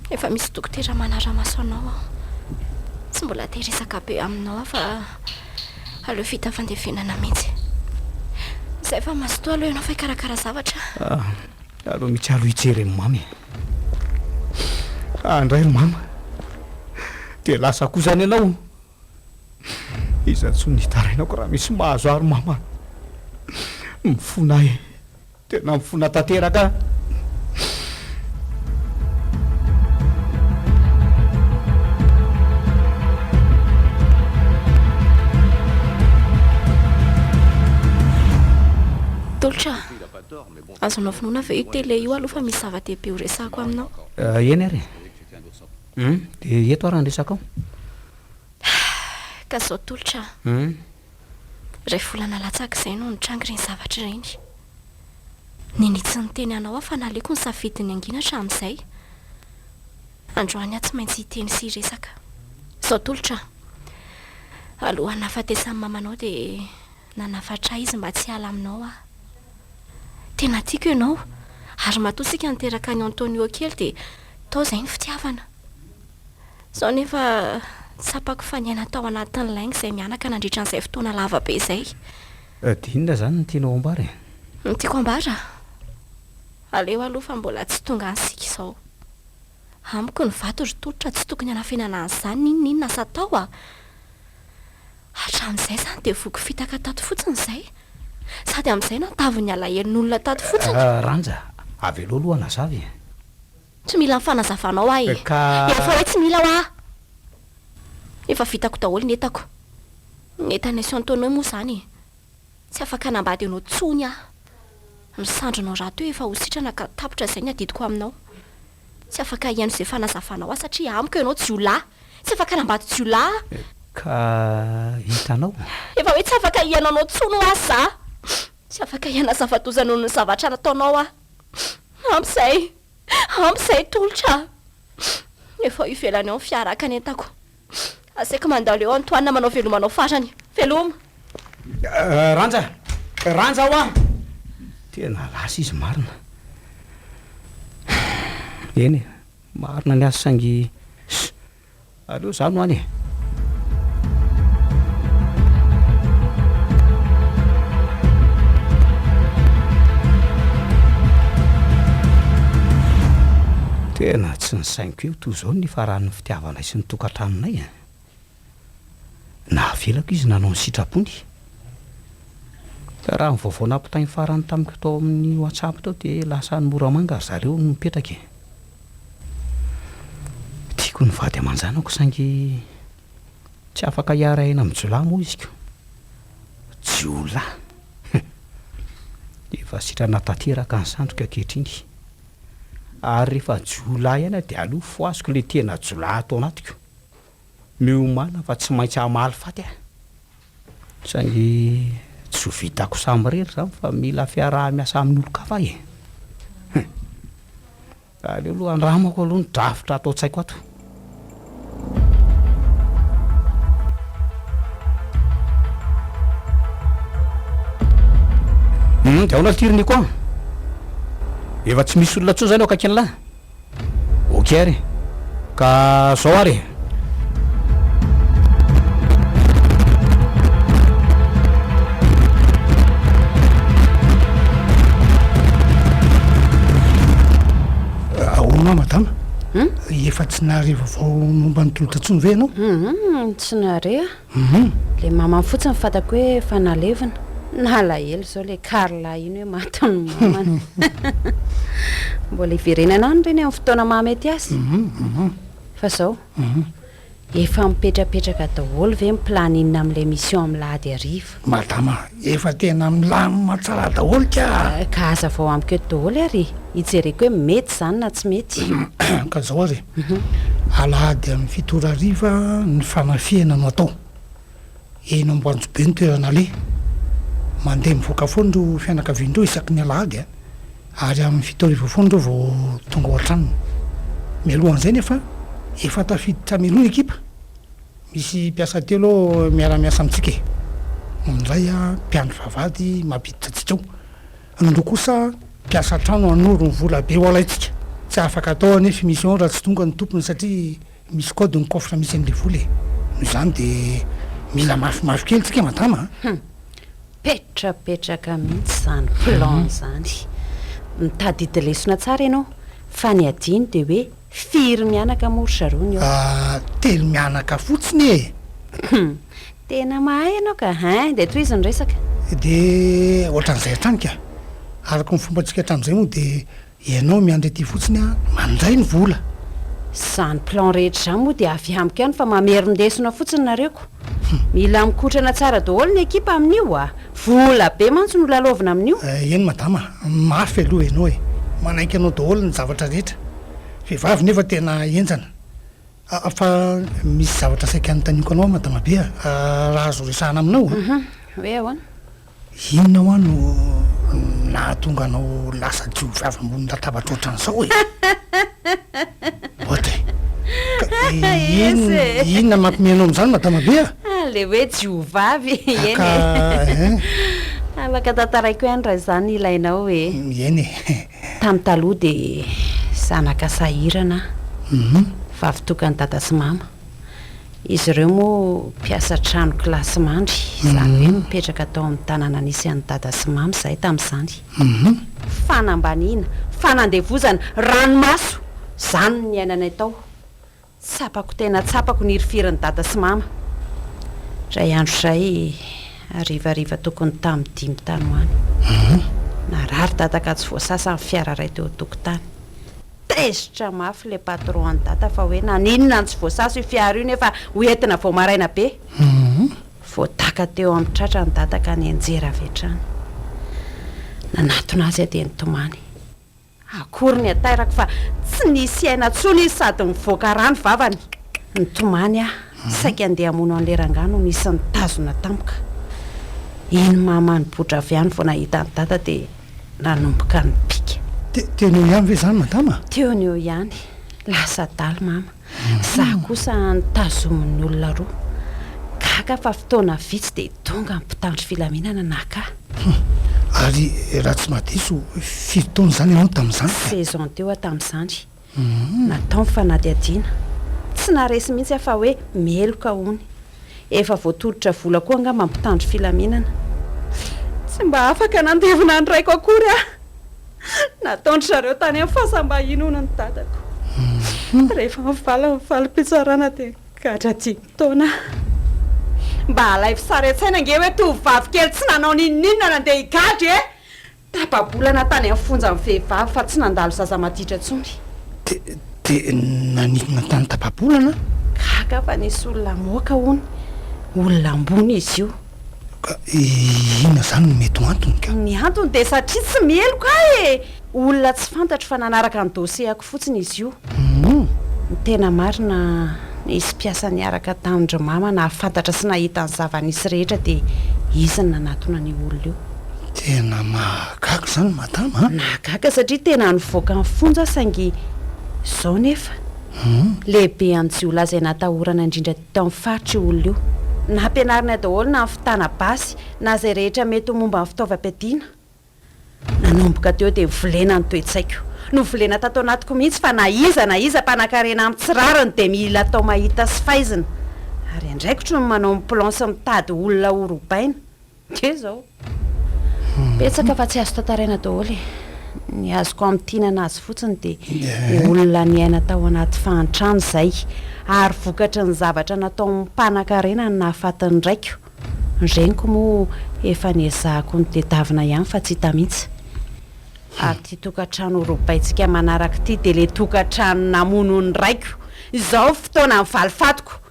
Efa misy dokotera manara-maso anao aho. Tsy mbola te resaka be aminao aho fa aleo vita fandevenana mihitsy. Izay fa mazotoa aloha ianao fa hikarakara zavatra. Ah, aleo mihitsy aloha hijery an'i mama e. Ah, indray ry mama. Dia lasa koa izany ianao. Iza intsony ny hitarainako raha misy mahazo ahy ry mama. Mifona ahy e. Tena mifona tanteraka an. Tolotra a! Azonao finoana ve io télé io aloha fa misy zava-dehibe horesahako aminao? Eny ary e! Hum, dia eto ary no resakao. Ka izao Tolotra a! Iray volana latsaka izay no nitranga ireny zavatra ireny. Nini tsy niteny anao aho fa naleoko nisafidy ny hangina hatramin'izay. Androany aho tsy maintsy hiteny sy hiresaka. Izao tolotra aho. Alohan'ny nahafatesan'i mama anao dia nanafatra ahy izy mba tsy hiala aminao aho. Tena tiako ianao ary matoa isika niteraka an'i Antonio kely dia tao izay ny fitiavana. Izao anefa, tsapako fa niaina tao anatin'ny lainga izay mianaka nandritra an'izay fotoana lava be izay. Dia inona izany no tianao hambara e? Ny tiako hambara? Aleo aloha fa mbola tsy tonga any isika izao. Amiko ny vato ry tolotra tsy tokony hanafenana an'izany n'inon'inona asa atao a! Hatramin'izay izany dia voky fitaka tato fotsiny izay, sady amin'izay nahatavin'ny alahelon'olona tato fotsiny. Ranja, avelao aloha hanazava e! Tsy mila ny fanazavanao aho e! Ka. Efa hoe tsy mila hoa! Efa vitako daholo ny entako. Ny entan'i Sy Antonio moa izany e! Tsy afaka hanambady anao intsony aho. Ny sandrinao rahateo efa ho sitrana ka tapitra izay ny adidiko aminao. Tsy afaka hihaino izay fanazavanao aho satria amiko ianao jiolahy! Tsy afaka hanambady jiolahy aho! Ka hitanao? Efa hoe tsy afaka hihaino anao intsony hoa za! Tsy afaka hihanazava-doza noho ny zavatra nataonao aho. Ampy izay! Ampy izay tolotra a! Efa ao ivelany ao ny fiara haka ny entako. Asaiko mandalo eo Antoine manao veloma anao farany. Veloma! Ranja! Ranja hoa! Tena lasa izy marina. Eny e, marina ny azy saingy. Aleo za no any e. Tena tsy nisainiko eo toa izao ny nifaran'ny fitiavanay sy ny tokantranonay e. Nahavelako izy nanao ny sitrapony. Ka raha ny vaovao nampitainy farany tamiko tao amin'ny WhatsApp tao dia lasa any Moramanga ry zareo no mipetraka e. Tiako ny vady aman-janako saingy tsy afaka hiara-hiaina amin'ny jiolahy moa izy ko. Jiolahy! Hum! Efa sitrana tanteraka ny sandoka ankehitriny ary rehefa jiolahy ihany aho dia aleo fohaziko ilay tena jiolahy ato anatiko. Miomàna fa tsy maintsy hamaly faty aho. Saingy tsy ho vitako samirery izany fa mila fiaraha-miasa amin'olon-kafa aho e! Hum! Aleo aloha andramako aloha ny drafitra ato an-tsaiko ato. Hum, dia ahoana ity ry Nico a? Efa tsy misy olona intsony izany eo akaikin'lah? Ok ary ka zao ary e. Efa tsy nahare vaovao momba ny tolotra intsony ve ianao? Tsy nahare aho. Humm le mamany fotsiny fantako hoe efa nalevina. Nalahelo zao le Carla iny hoe maty ny mamany. Mbola hiverenana any reny amin'ny fotoana mahamety azy. Fa zao, efa mipetrapetraka daholo ve ny planning amin'ilay mission amin'ny lahady hariva? Madama, efa tena milamina tsara daholo ka! Ka hazavao amiko eto daholo ary e! Hijereko hoe mety izany na tsy mety. Ka izao ary e! Alahady amin'ny fito ora hariva ny fanafihana no atao. Eny Amboanjobe ny toerana aleha. Mandeha mivoaka foana ireo fianakaviana ireo isaky ny alahady a! Ary amin'ny fito hariva foana ireo vao tonga ao an-tranony. Mialohan'izay nefa efa tafiditra amin'ny roa ny ekipa. Misy mpiasa telo miara-miasa amintsika e! Ny iray mpiandry vavahady mampiditra antsika ao. Ny roa kosa mpiasa an-trano hanoro ny vola be ho alaintsika. Tsy afaka atao anefa i mission raha tsy tonga ny tompony satria misy code ny coffre misy an'ilay vola e! Noho izany dia mila mafimafy kely tsika madama a! Hum! Petrapetraka mihitsy izany plan izany! Mitadidy lesona tsara ianao fa ny adino dia hoe Firy mianaka moa ry zareo ny ao? Ah, telo mianaka fotsiny e! Hum, tena mahay ianao ka, hein, dia tohizo ny resaka. Dia ohatran'izay hatrany ka. Araka ny fombantsika hatramin'izay moa dia ianao miandry aty fotsiny aho mandray ny vola. Izany plan rehetra izany moa dia avy amiko ihany fa mamerin-desona fotsiny nareo ko. Mila mikotrana tsara daholo ny ekipa amin'io a! Vola be mantsy no lalaovina amin'io. Eny madama a! Mafy aloha ianao e! Manaiky anao daholo ny zavatra rehetra. Vehivavy nefa tena henjana. A! Fa misy zavatra saika anontaniako anao aho madama be a! Raha azo resahana aminao a! Hoe ahoana? Inona hoa no nahatonga anao lasa jiovavy ambony latabatra ohatran'izao e? Audrey, ka inona, inona mampime anao amin'izany madama be a? Ah, le hoe jiovavy, eny e. Ka eh? Afaka tantaraiko ihany raha izany ilainao e. Eny e. Tany taloha dia zanaka sahirana aho. Uhum. Vavy tokan'i dada sy mama. Izy ireo moa mpiasa trano kilasy mandry, izany hoe mipetraka tao amin'ny tanàna nisy an'i Dada sy Mamy izahay tamin'izany. Fanambaniana, fanandevozana, ranomaso, izany no niainanay tao. Tsapako tena tsapako ny hirifirin'i Dada sy Mama. Indray andro izay, harivariva tokony tamin'ny dimy tany ho any, narary Dada ka tsy voasasa ny fiara iray teo an-tokotany. Tezitra mafy le patron an'i dada fa hoe naninona no tsy voasaso io fiara io nefa ho entina vao maraina be. Voadaka teo amin'ny tratra ny dada ka nianjera avy hatrany. Nanatona azy aho dia nitomany. Akory ny atairako fa tsy nisy aina intsony izy sady nivoaka rà ny vavany. Nitomany aho, saika handeha hamono an'ilay rangahy no nisy nitazona tampoka. Iny mama nibotra avy any vao nahita an'i dada dia. nanomboka nipika. Teo ny eo ihany ve izany madama? Teo ny eo ihany. Lasa adala mama. Izaho kosa notazomin'ny olona roa. Gaga fa fotoana vitsy dia tonga ny mpitandro filaminana naka ahy. Ary raha tsy mahadiso, firy taona izany ianao tamin'izany ka? Seize ans teo aho tamin'izany. Natao ny fanadihadiana. Tsy naharesy mihitsy aho fa hoe meloka hono. Efa voatolotra vola koa angamba ny mpitandro filaminana. Tsy mba afaka nandevina ny raiko akory aho. Nataon-dry zareo tany amin'ny fasam-bahiny hono ny dadako. Rehefa mivaly ny valim-pitsarana dia gadra dimy taona aho. Mba alaivo sary an-tsaina ange hoe tovovavy kely tsy nanao n'inon'inona nandeha higadra e! Tapa-bolana tany amin'ny fonja ny vehivavy fa tsy nandalo zaza maditra intsony. Dia nanidina tany tapa-bolana? Gaga fa nisy olona moka hono. Olona ambony izy io. Ka inona izany no mety ho antony ka? Ny antony dia satria tsy meloka ahy e! Olona tsy fantatro fa nanaraka ny dossier-ko. fotsiny izy io. Humm! Ny tena marina, nisy mpiasa niaraka tamin-dry Mama nahafantatra sy nahita ny zava-nisy rehetra dia izy no nanatona an'io olona io. Tena mahagaga izany Madama a! Nahagaga satria tena nivoaka ny fonja saingy izao nefa. Humm! Lehibe amin'ny jiolahy izay natahorana indrindra teto amin'ny faritra io olona io. Nampianarinay daholo na ny fitana basy na izay rehetra mety ho momba ny fitaovam-piadiana. Nanomboka teo dia volena ny toe-tsaiko. Novolena tato anatiko mihitsy fa na iza na iza mpanakarena amin tsy rariny dia mila atao mahita sy faizina. Ary andraikitro ny manao ny plan sy mitady olona ho robaina. Dia izao. Betsaka fa tsy azo tantaraina daholo e. Ny azoko amintinana azy fotsiny dia dia olona niaina tao anaty fahantrana izay ary vokatry ny zavatra nataon'ny mpanakarena no nahafatin'ny raiko. Ny reniko moa efa niezahako nitedavina ihany fa tsy hita mihitsy. Ary ity tokantrano robaintsika manaraka ity dia ilay tokantrano namono ny raiko. Izao ny fotoanan'ny valifatiko.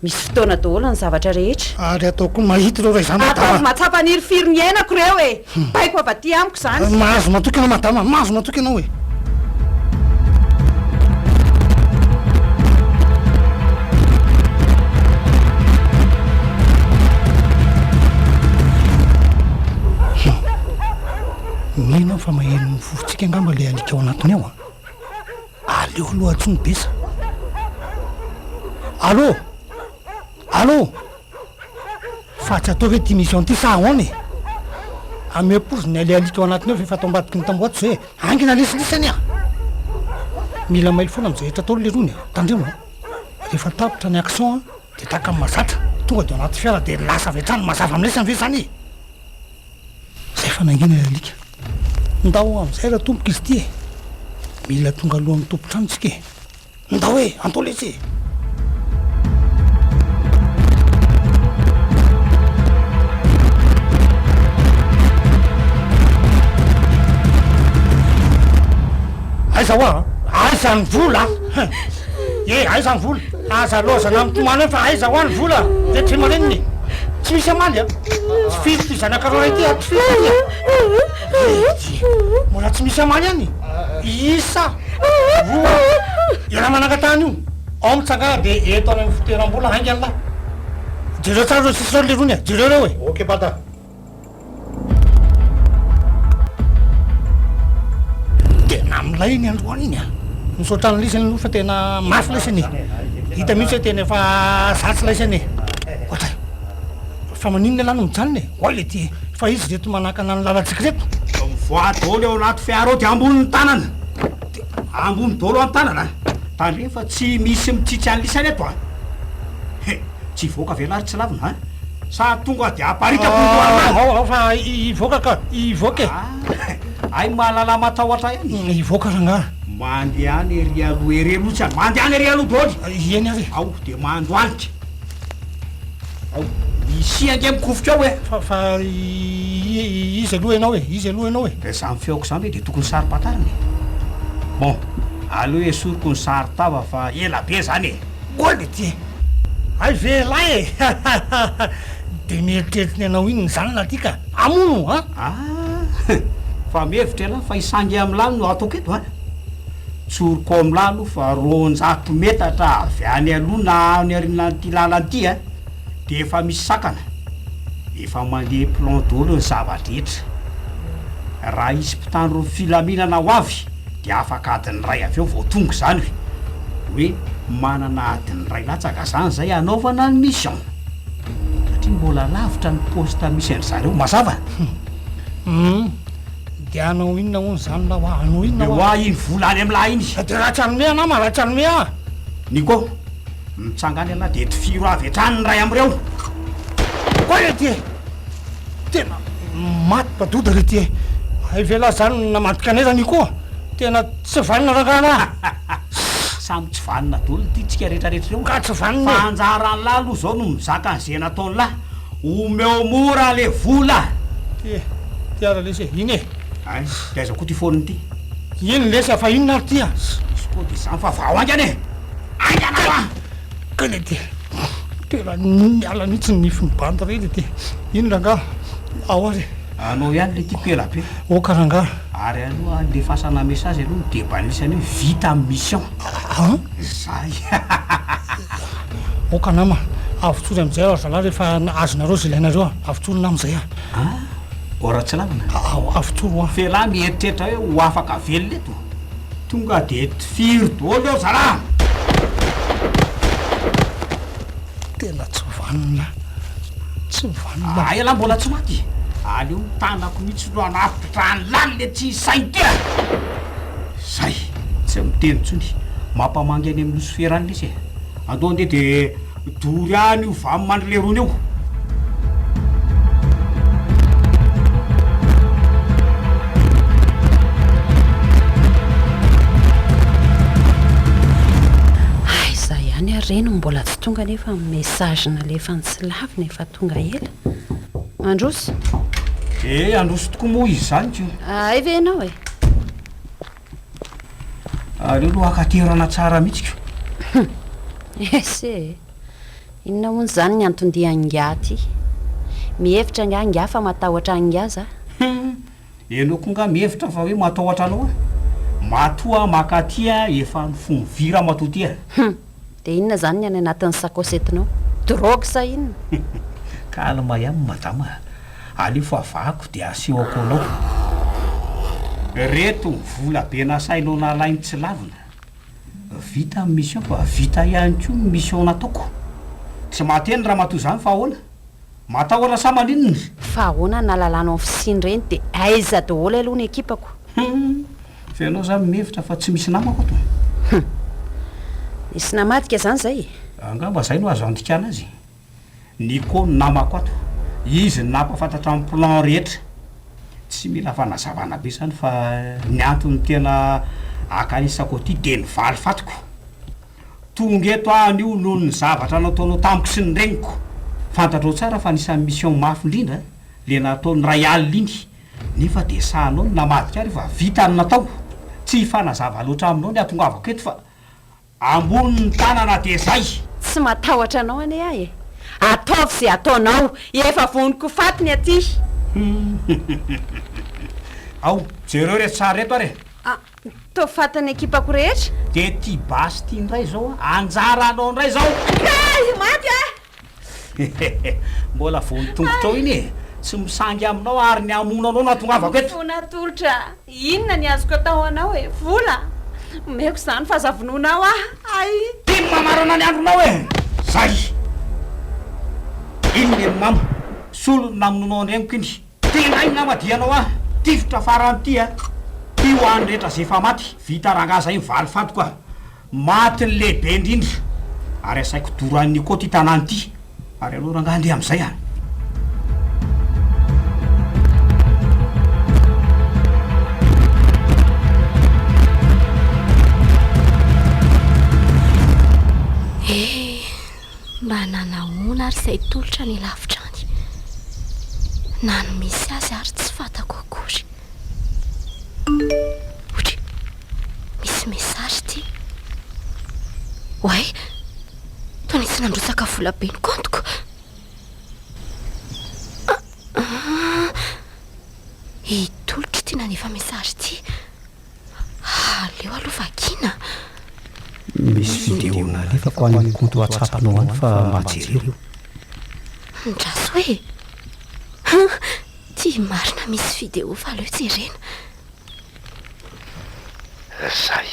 Misy fotoana daholo ny zavatra rehetra. Ary ataoko mahita ireo ray zanaky dadanao. Ataovy mahatsapa nirifiry ny iainako ireo e! Hum. Baiko avy aty amiko izany. Mahazo matoky anao madama, mahazo matoky anao e. Mino fa maheno ny fofotsika angamba le alika ao anatiny ao a aleo aloha atsony besa allo allo Fa tsy atao ve ty mission ty sa ahoana e? Ameo porofo ny aleha lito ao anatiny ao fa efa tao ambadiky ny tamboho ato zay e. Hangina lesy lesy anie a! Mila mailo foana amin'izay rehetra atao lerony e. Tandremo a! Rehefa tapitra ny action a, dia taka ny mazatra, tonga dia ao anaty fiara dia lasa avy hatrany mazava amin'ny lesany ve izany e? Zay fa nangina ilay alika. Ndao amin'izay raha tompoko izy ity e! Mila tonga alohan'ny tompon-trano isika e! Ndao e! Ampolice e! Aiza hoa? Aiza ny vola? E, aiza ny vola? Aza lozana amin'ny tomany eo fa aiza hoa ny vola? Dia tsy maninona Tsy misy amaly a? Tsy firy ty zanaka roa ity a? Tsy firy ty a? Mbola tsy misy amaly any? Isa! Roa ira manangatany io ao mitsangana de eto any amin'ny fitoeram-bola haingany lahy. Jereo tsara ireo sisa ireo lerony e, jereo ireo e. Ok bata. Tena milay ny androany iny a. Misaotra an'ilay izy aloha fa tena mafy ilay izy anie. Hita mihitsy hoe tena efa zatra ilay izy anie. Ohatra. Fa maninona ialahy no mijanona e? Oay le ty e! Fa izy reto manakana ny lalantsika reto. Fa mivoaha dolo eo anaty fiara ao dia ambony ny tanana. Dia ambony dolo an tanana. Tandremo fa tsy misy mitsitsy an'i lisany eto a! He! Tsy hivoaka ve ialahy ry tsilavina a! Sa tonga dia haparitako ny lohanao? Ao ao fa hivoaka ka! Hivoaka e! Ah! Hay mahalala matahotra ihany e! Hivoaka rangaha! Mandehana ery aloha ery aloha tsy a! Mandehana ery aloha dolo! Eny ary e! Ao dia mandohalika! Isia ange mikofoka ao e! Fa fa iza aloha ianao e? Iza aloha ianao e? Dia samy feoko izany ve dia tokony saro-pantarina e? Bon, aleo esoriko ny saron-tava fa ela be izany e! Gold ity e! Hay ve elah e! Hahahaha! Dia mieritreritra ny anao inona izany lahy ity ka! Hamono an! Ah! Fa mihevitra elah fa i Sangiamilany no ataoko eto an! Tsoriko ao amin'lah aloha fa roanjato metatra avy any aloha na any arinan'ity lalana ity a, dia efa misy sakana. Efa mandeha plan daholo ny zava-drehetra. Raha hisy mpitandron'ny filaminana ho avy dia afaka adiny iray avy eo vao tonga izany hoe, hoe manana adiny iray latsaka izany izay hanaovana ny mission. Satria mbola lavitra ny poste misy an-dry zareo. Mazava? Humm. Dia hanao inona hono izany lahy hoa? Hanao inona hoa? Omeo ahy iny vola any amin'lah iny! Fa dia ratsy hanome anao ma? Ratsy hanome ahy! Nico, mitsanga any ialahy dia tifiro avy hatrany ny iray amin'ireo! Oay re ty e! Tena maty mpa-doda re ty e! Hay ve lahy izany no namadika anay ra Nico? Tena tsy vanona rangahy lahy! Samy tsy vanona dolo ity tsika rehetrarehetra ireo! Ka tsy vanona e! Fa anjaran'lah aloha izao no mizaka an'izay nataon'lah! Omeo mora le vola. Ty e, ty ara lesy e, iny e. Ay, de aiza koa ty phone ty. Iny lesy a, fa inona ary ty a. Misy code izany fa vao haingana e. Haingana fa. Kay le ty. Tena niala mihitsy ny nifin'ny bandy reny ty. Iny rangaha, ao ary. Anao ihany le tiako ela be. Ok rangaha. Ary aloha andefasana message aloha ny debat nisy anio vita ny mission. An? Izay. Ok nama, avotsory amin'izay aho ry zalahy rehefa azonareo izay ilainareo an. Avotsory nama izay an. An? Ô Ratsilamina. Avotsory hoa. F'elah mieritreritra hoe ho afaka velona eto. Tonga dia tifiry dôly eo zalahy. Tena tsy vanona. Tsy vanona. Hay elah mbola tsy maty. Aleo ny tanako mihitsy no hanafitra trano lalina etsy saintena. Zay, tsy miteny intsony. Mampamangy any amin'ny nosy fera any lesy e. Andao andeha dia dory any io vam mandry lerony io. Aiza ihany ary re no mbola tsy tonga nefa ny message nalefany tsy lavina efa tonga ela. Mandroso. Eh, handroso tokoa moa izany ko. Hay ve ianao e? Aleo aloha akaterana tsara mihitsy ko. Ese e. Inona hono izany ny anton-dian'ingahy aty? Mihevitra angaha ingahy fa matahotra an'ingahy za? Ianao koa angaha mihevitra fa hoe matahotra anao aho? Matoa makaty aho efa mifonvy ramatoa ty a! Dia inona izany ny any anatin'ny sakaosy entinao? Drogue sa inona? Calme ihany madama a! Aleo favahako dia asehoko anao. Reto ny vola be nasainao nalainy tsy lavina. Vita ny mission fa vita ihany koa ny mission nataoko. Tsy mahate ny ramatoa izany fa ahoana? Matahotra sa maninona? Fa ahoana ny nahalalanao ny fisiany ireny dia aiza daholo aloha ny ekipako? Hum! Fa ianao izany mihevitra fa tsy misy namako ato e! Hum! Misy namadika izany izay e! Angamba izay no azo andikana azy e! Nico no namako ato, izy no nampahafantatra ny plan rehetra. Tsy mila fanazavana be izany fa ny antony tena akanesako aty dia ny valifatiko. Tonga eto aho anio noho ny zavatra nataonao tamiko sy ny reniko. Fantatrao tsara fa anisan'ny mission mafy indrindra le natao ny iray alina iny, nefa dia sahanao ny namadika ary fa vita ny natao. Tsy hifanazava loatra aminao ny hatongavako eto fa ambonin'ny tanana dia zay. Tsy matahotra anao anie aho e! Ataovy ze ataonao, efa voniko ho faty ny aty. Ao, jereo re tsara eto ary e! Toa faty ny ekipako rehetra. De ty basy ty ndray zao a! Anjara anao ndray zao! Kay i Maty a! Hehehe! Mbola vao ny tongotrao iny e! Tsy misangy aminao ary ny hamono anao no ahatongavako eto! Fo natolotra! Inona ny azoko atao ho anao e? Vola? Omeko izany fa aza vonoinao aho! Hay! Ty ny mamarana ny andronao e! Zay! Iny ny mama! Solony namonoanao andreniko iny! Tena inona ma dia anao an! Tifitra farany ity an! Ty ho an'ny rehetra zay efa maty, vita rangahy zay ny valy fantiko an! Maty ny lehibe indrindra! Ary asaiko doran'i Nico ty tanàna ty! Ary aleo rangahy andeha amin'izay an! Mba nanahoana ary izay tolotra any lavitra any? Na ny misy azy ary tsy fantako akory. Otry, misy message ity. Oay, toa nisy nandrotsaka vola be ny compte-ko. Ah, ah, i tolotra ity nanefa message ity. Aleo aloha vakiana. Misy vidéo nalefako any compte whatsapp-nao any fa mba jereo. Andraso e! Hum, ty marina misy vidéo fa aleo jerena. Zay.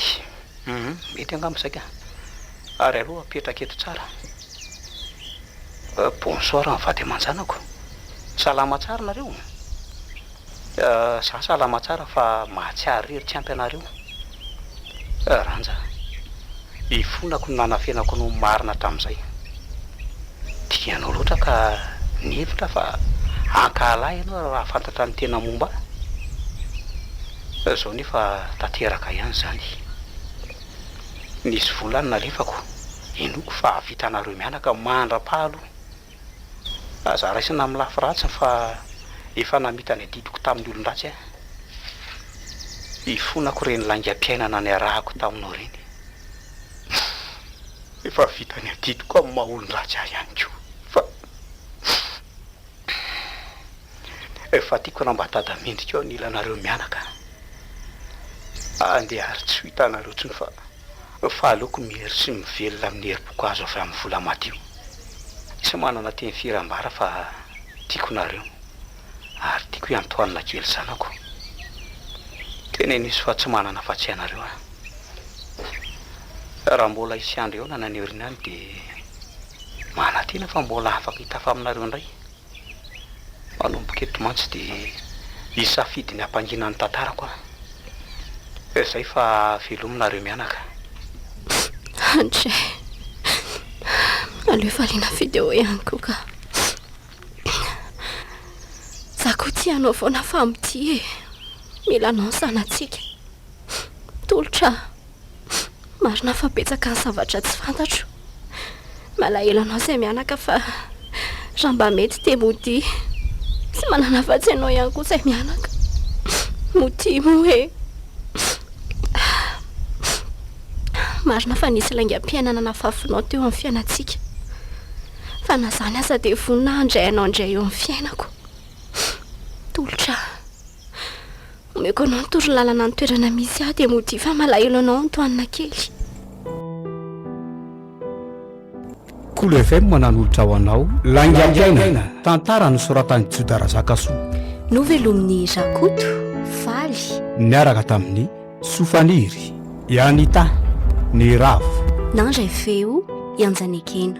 Hum, mety angamba saika. Ary aleo apetraka eto tsara. Bonsoir ny vady aman-janako. Salama tsara nareo? Za salama tsara fa mahatsiaro irery tsy ampy anareo. Ranja, ifonako ny nanafenako ny ho marina hatramin'izay. Tia anao loatra ka nihevitra aho fa hankahala ahy ianao raha hahafantatra ny tena momba ahy. Izao nefa tanteraka ihany izany. Nisy vola nalefako, inoako fa hahavitanareo mianaka mandra-paha aloha. Aza raisina amin'ny lafy ratsiny fa efa namita ny adidiko tamin'ny olon-dratsy aho. Ifonako ireny laingam-piainana niarahako taminao ireny. Efa vita ny adidiko amin'ny maha olon-dratsy ahy ihany koa fa efa tiako raha mba tada mendrika eo anilanareo mianaka handeha ary tsy ho hitanareo intsony fa. Fa aleoko mihery sy mivelona amin'ny herim-poko azo avy amin'ny vola madio. Tsy manana teny firy ambara fa tiako nareo ary tiako iantohanina kely zanako. Teneno izy fa tsy manana afa-tsy anareo aho. Raha mbola hisy andro eo na naneorina any dia manantena fa mbola afaka hitafa aminareo indray. Manomboka eto mantsy dia hisafidy ny hampangina ny tantarako aho. Ka izay fa velominareo mianaka. Andry, aleo variana video ihany koa ka. Za koa tsy hanao foana fa mitia e. Mila anao ny zanatsika. Tolotra. Marina fa betsaka ny zavatra tsy fantatro. Malahelo anao izay mianaka fa raha mba mety dia modia. Tsy manana afa-tsy ianao ihany koa izay mianaka. Modia moa e. Marina fa nisy laingam-piainana nafafinao teo amin'ny fiainantsika. Fa na izany aza dia vonona aho handray anao indray eo amin'ny fiainako. Tolotra. Omeko anao ny toro lalana ny toerana misy ahy dia modia fa malahelo anao Antoine kely. Kolo FM nanolotra ho anao Laingampiaina, tantara nosoratan'i Joda Razakasoa. Novelomin'i Rakoto Faly. Niaraka tamin'i Sofaniry, i Anita, ny Ravo. Nandray feo i Anjanekena.